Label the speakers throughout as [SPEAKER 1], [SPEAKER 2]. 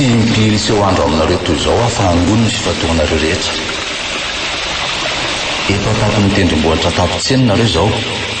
[SPEAKER 1] Tsy impiry tsy ho andro aminareo toy izao ahafahangon ny fifantohanareo rehetra. Efa tato ny tendrombohitra tato tseny nareo izao.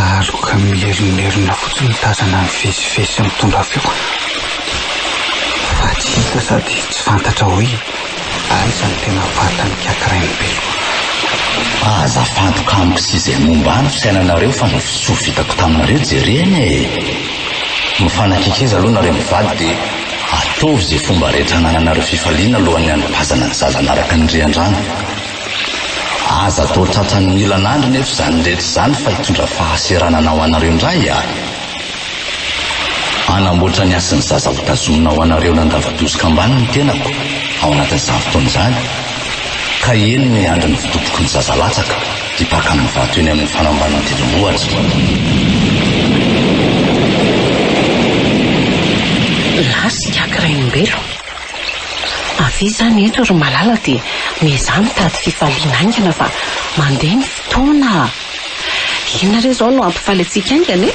[SPEAKER 2] Aloka mileronerona fotsiny mitazana ny vezivezy sy mitondra feo fa tsy hita sady tsy fantatra hoe aiza no tena vatan'ny kiakirain'ny beloha.
[SPEAKER 1] Aza fantoka amiko sy izay momba ahy ny fisainanareo fa ny fisoa vitako taminareo jerena e! Mifanakaikiza aloha nareo mivady dia ataovy izay fomba rehetra hanananareo fifaliana alohan'ny hanapazana ny zaza hanaraka ny riandrano. Aza atao tratran'ny milan andry nefa izany rehetra izany fa hitondra fahaseranana ho anareo indray a! Hanamboatra ny hasin'ny zaza ho tazomina ho anareo nandava-doza kambana ny tenako ao anatin'izany fotoana izany ka eny miandry ny votoboky ny zaza latsaka hipaka amin'ny vato eny amin'ny fanamban'ny didim-bohitra.
[SPEAKER 3] Lasy Kiaka Rainimbelo. Avia izany eto ry malala dia miezaha mitady fifaliana haingana fa mandeha ny fotoana a! Inona re izao no hampifaly antsika haingana e?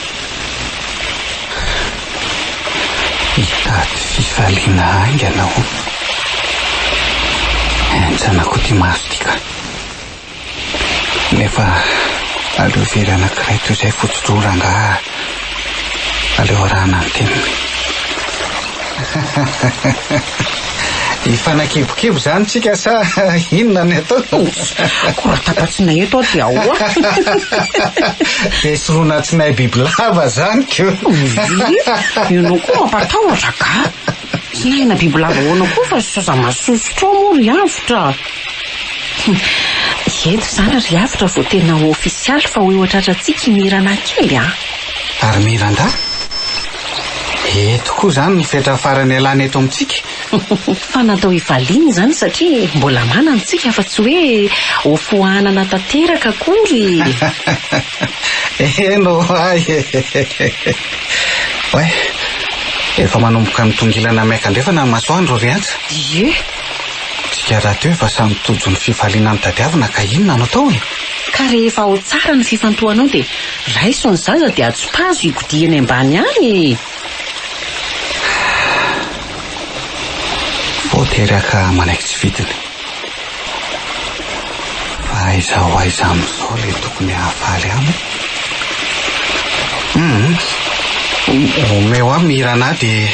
[SPEAKER 2] Hitady fifaliana haingana o! Henjanako ity maso ity ka! Nefa aleo very anankiray toy izay fotsotro rangaha aleo arahana ny teniny. Hifanakebokibo zany tsika sa inona ny atao? Ko raha
[SPEAKER 3] tapa-tsinay eto aho dia ahoa? Dia
[SPEAKER 2] soronan-tsinay bibilava zany ko.
[SPEAKER 3] Ianao koa mampatahotra angaha? Tena bibilava ahoana koa fa sisa masosotra ao moa ry avotra a! Eto izany ry avotra vao tena ho ofisialy fa ho eo an-tratrantsika i Mirana kely a! Ary Miranda?
[SPEAKER 2] Eto koa izany ny fetra farany ialany eto amintsika? Fa
[SPEAKER 3] natao hivaliana izany satria mbola manana isika fa tsy hoe ho foanana tanteraka akory! Eny
[SPEAKER 2] roahy e! Oay, efa manomboka mitongilana miaka andrefana ny masoandro ry Antsa. Ie.
[SPEAKER 3] Tsika
[SPEAKER 2] rahateo efa samy tojo ny fifaliana nitadiavina ka inona no atao e? Ka rehefa ao
[SPEAKER 3] tsara ny fifantohanao dia raiso ny zaza dia ajopazo higodiha eny ambany any
[SPEAKER 2] e! Vao tery haka manaiky tsy fidiny. Fa aiza ho aiza amin'izao ilay tokony hahafaly aminy? Humm. Omeo ahy Mirana dia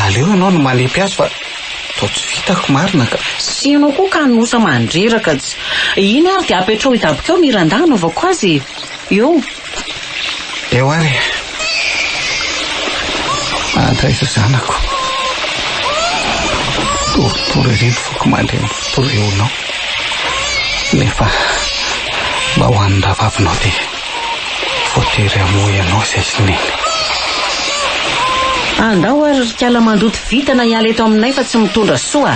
[SPEAKER 2] aleo ianao no manipy azy fa toa tsy vitako marina ka. Sy ianao koa
[SPEAKER 3] kanosa mandreraka tsy. Iny ary dia apetraho hidabokeo Miranda hanaovako azy e. Eo.
[SPEAKER 2] Eo ary e. Andraiza zanako. Torotoro ery ny foko mandreny toreonao. Nefa mba ho an'ny rahavavinao dia voatery hamoa ianao izay sy neny.
[SPEAKER 3] Andao ary ry kala mandoto vintana hiala eto aminay fa tsy mitondra soa.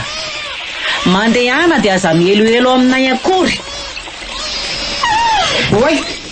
[SPEAKER 3] Mandehana dia aza mihelohelo aminay akory.
[SPEAKER 2] Oay,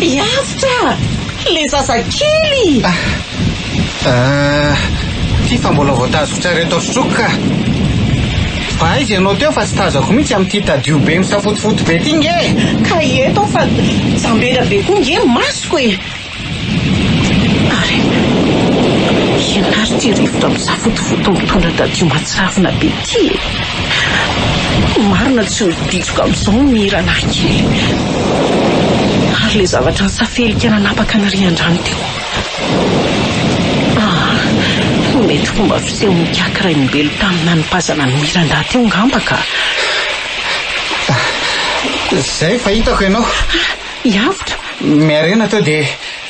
[SPEAKER 3] Hiavotra! Ilay zazakely! Ah,
[SPEAKER 2] ty fa mbola vao tazotr'areo tao stroke ka! Fa aiza ianao teo fa tsy tazako mihitsy amin'ity tadio be misafotofoto be ty nge e! Ka eto aho fa
[SPEAKER 3] jambera be koa nge ny masoko e! Ary ianary ity rivotra misafotofoto mitondra tadio matsavina be ity e! Marina tsy ho ditsoka amin'izao ny hiranary kely. Ary ilay zavatra nisafelika nanapaka ny rian-drano teo. Ah, mety fomba fisehon'ny kiaka rainimbelo tamin'ny nanipazana ny miranda teo ngamba ka!
[SPEAKER 2] Izay fa hitako ianao. I Avotra.
[SPEAKER 3] Miarena
[SPEAKER 2] teo dia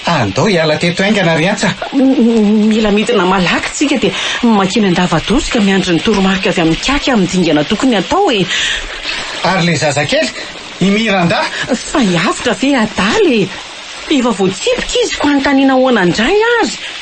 [SPEAKER 2] andao hiala teto haingana ry Antsa. Mila
[SPEAKER 3] midina malaky tsika dia mankeny an-davadoza ka miandry ny toromarika avy amin'ny Kaky amin'ny dingana tokony atao e. Ary ilay
[SPEAKER 2] zazakely, i Miranda? Fa i
[SPEAKER 3] Avotra ve adala e? Efa voatsipika izy fa antanina ahoana indray ary?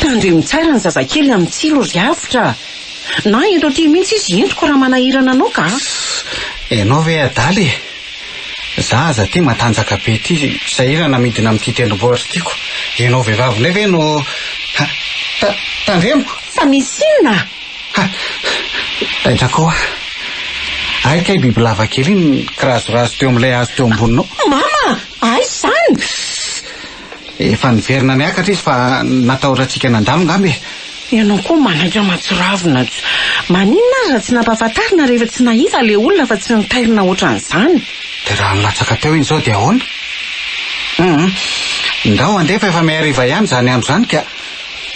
[SPEAKER 3] Tandremo tsara ny zazakely amin'ny tsilo ry avotra a! Na eto aty mihitsy izy hentiko raha manahirana anao ka a! Ianao
[SPEAKER 2] ve adala e! Za aza aty matanjaka be ity sahirana midina amin'ity tendrombohitra ity ko ianao vehivavy indray ve no ha! ta! tandremo! Fa misy
[SPEAKER 3] inona a! Ha!
[SPEAKER 2] taitra ko a! Hay kay bibilava kely iny kirazorazo teo amin'ilay hazo teo amboninao. Mama!
[SPEAKER 3] Aiza izany? Ssss!
[SPEAKER 2] Efa niverina niakatra izy fa natahorantsika nandalo ngamba e! Ianao koa
[SPEAKER 3] manaiky matsiravina ts. Maninona ary raha tsy nampahafantarina rehefa tsy nahita ilay olona fa tsy nitairina ohatran'izany? Dia raha nilatsaka
[SPEAKER 2] teo iny izao dia ahoana? Hum! Ndao handeha fa efa mihariva ihany izany andro izany ka!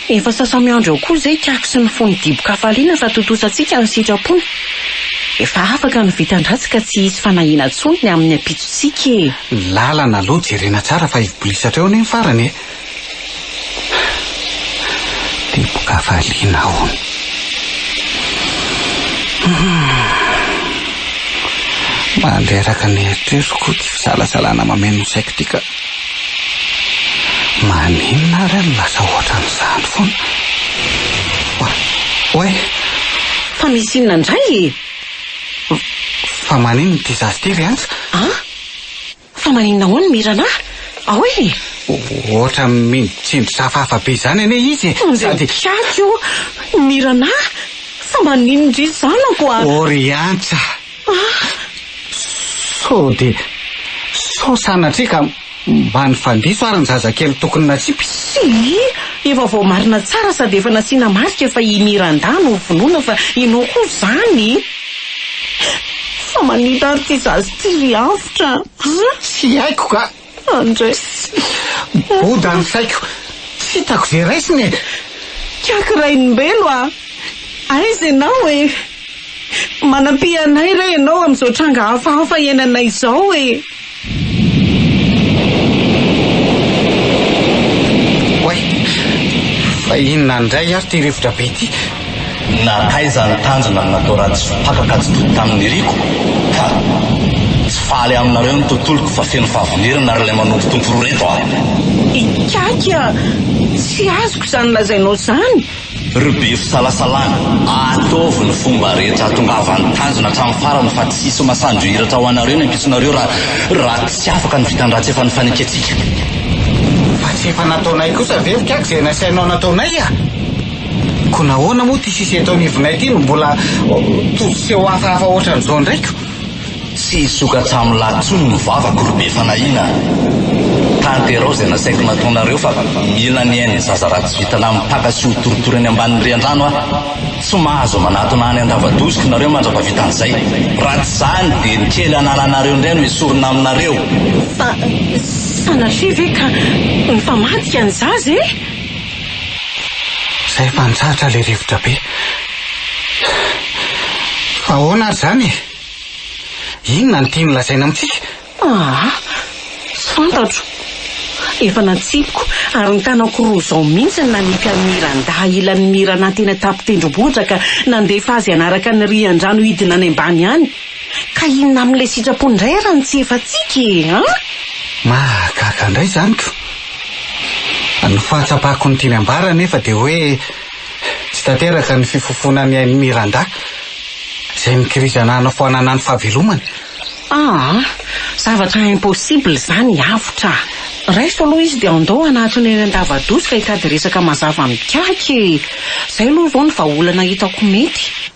[SPEAKER 2] Efa
[SPEAKER 3] sasa-miandry ao koa izay tiako sy ny fony dibo-kafaliana fa tontosantsika ny sitrapony. Efa afaka ny vitan-dratsy ka tsy hisy fanahiana intsony ny amin'ny ampitsontsika e! Ny lalana aloha
[SPEAKER 2] jerena tsara fa hivolisatra eo anie ny farany e! Dibo-kafaliana hono. Mandreraka ny eritreritro koa tsy fisalasalana mameno ny saiko ity ka. Maninona ary aho no lasa ohatran'izany foana? Oa, oay! Fa
[SPEAKER 3] misy inona indray e?
[SPEAKER 2] Fa maninona ity zaza ity ry Antsa? An?
[SPEAKER 3] Fa maninona hono Mirana? Ahoy e? Ohatra
[SPEAKER 2] mino tsindry safahafa be izany anie izy e! Andeha mikiaka eo!
[SPEAKER 3] Mirana? Fa maninona indry zanako a? Ô ry Antsa!
[SPEAKER 2] Sao dia sao sanatria ka mba nifandiso ary ny zazakely tokony natsipy? Tsia,
[SPEAKER 3] efa voamarina tsara sady efa nasiana marika fa i Miranda no vonoina fa ianao koa izany? Fa manita ary ity zaza ity ry Avotra a! Tsy haiko
[SPEAKER 2] ka! Andray sy. Miboda ny saiko. Tsy hitako ze raisiny e! Kiaky
[SPEAKER 3] Rainimbelo a! Aiza ianao e! Manampy anay re ianao amin'izao tranga hafahafa iainanay izao e!
[SPEAKER 2] Oay! Fa inona indray ary ity rivotra be ity? Na taiza
[SPEAKER 1] ny tanjona no natao raha tsy faka ka tsy toy tamin' ny riko ka. Tsy faly aminareo ny tontoloko fa feno fahavinerana ary ilay manompotompo roa reto aho. Ikiaky
[SPEAKER 3] a! Tsy azoko izany lazainao izany! Ry be
[SPEAKER 1] fisalasalana, ataovy ny fomba rehetra hahatongavan'ny tanjona hatramin'ny farany fa tsy hisy masoandro hihiratra ho anareo ny ampitsonareo raha raha tsy afaka ny vitan-dratsy efa nifanekentsika.
[SPEAKER 2] Fa tsy efa nataonay kosa ve Ikiaky izay nasainao nataonay a! Ko nahoana moa ity sisa eto anivonay ity no mbola tosi-tseho hafahafa hoatran'izao indray ko? Tsy
[SPEAKER 1] hisoka tsamolahy intsony ny vavako ry be fanahiana a! Tanterao izay nasaiko nataonareo fa mila ny ain'ny zaza raha tsy vitanà mipaka sy hotoritory any ambanin'ny riandrano aho. Tsy mahazo manatona any an-dava-doziko nareo mandra-pahavita an'izay. Raha tsy izany dia ny kely anaranareo indray no esorina aminareo. Fa
[SPEAKER 3] sanatria ve ka mifamadika ny zaza e? Zay
[SPEAKER 2] efa nizatra ilay rivotra be. Fa ahoana ary izany e? Inona no tiany lazaina amintsika? Ah! Tsy fantatro.
[SPEAKER 3] Efa natsipiko ary ny tanako roa izao mihitsy no nanipy an'i Mirandahy ilan'ny Mirana teny an-tampon-tendrombohitra ka nandefa azy hanaraka ny rian-drano hidina any ambany any. Ka inona amin'ilay sitrapony indray ary ny tsy efantsika e! An? Mahagaga
[SPEAKER 2] indray izany ko! Ny fahatsapako ny tiany ambara anefa dia hoe tsy tanteraka ny fifofoana ny ain'i Miranda, izay mikirizana hanafoanana ny fahavelomany. Aa!
[SPEAKER 3] Zavatra impossible izany, avotra! Raiso aloha izy dia andao hanatona eny an-dava-doza ka hitady resaka mazava mikahaka e! Izay aloha vao ny vahaolana hitako mety.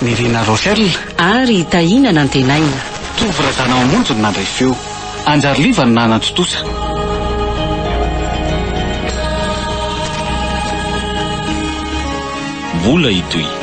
[SPEAKER 3] Nirina
[SPEAKER 2] Rochelle ary Tahina
[SPEAKER 3] Nantenaina. Tovo Razanamamonjy
[SPEAKER 2] no nandray feo. Anjary Liva no nanantontosa.
[SPEAKER 4] Mbola hitohy.